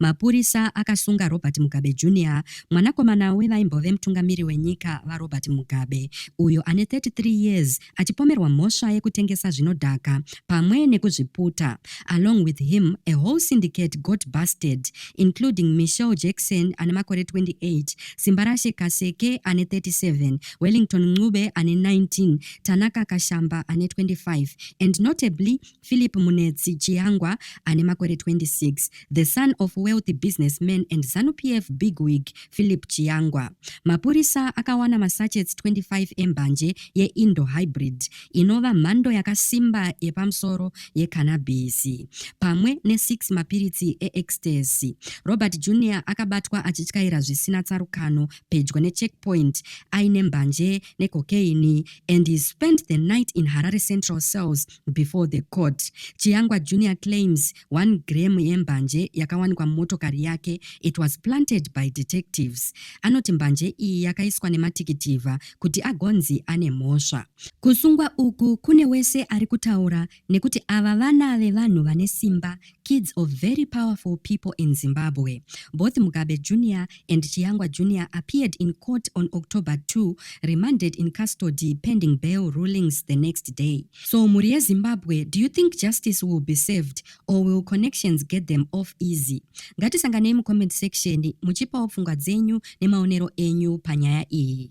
Mapurisa akasunga Robert Mugabe Junior, mwanakomana wevaimbove mutungamiri wenyika VaRobert Mugabe, uyo ane 33 years achipomerwa mhosva yekutengesa zvinodhaka pamwe nekuzviputa. Along with him, a whole syndicate got busted, including Michelle Jackson ane makore 28, Simbarashe Kaseke ane 37, Wellington Ncube ane 19, Tanaka Kashamba ane 25, and notably Philip Munetsi Chiyangwa ane makore 26, the son of wealthy businessman and ZANU-PF bigwig Philip Chiyangwa. Mapurisa akawana masachets 25 embanje yeIndo Hybrid inova mhando yakasimba yepamusoro yekanabhisi pamwe ne6 mapiritsi eEcstasy. Robert Junior akabatwa achityaira zvisina tsarukano pedyo necheckpoint aine mbanje necocaine and he spent the night in Harare Central cells Before the court, Chiyangwa Junior claims one gram yembanje yakawanikwa mumotokari yake it was planted by detectives. Anoti mbanje iyi yakaiswa nematikitivha kuti agonzi ane mhosva. Kusungwa uku kune wese ari kutaura nekuti ava vana vevanhu vane simba kids of very powerful people in Zimbabwe. Both Mugabe Jr. and Chiyangwa Jr. appeared in court on October 2, remanded in custody pending bail rulings the next day. So Murie Zimbabwe, do you think justice will be served or will connections get them off easy? Ngatisanganei comment section muchipawo pfungwa dzenyu nemaonero enyu panyaya iyi.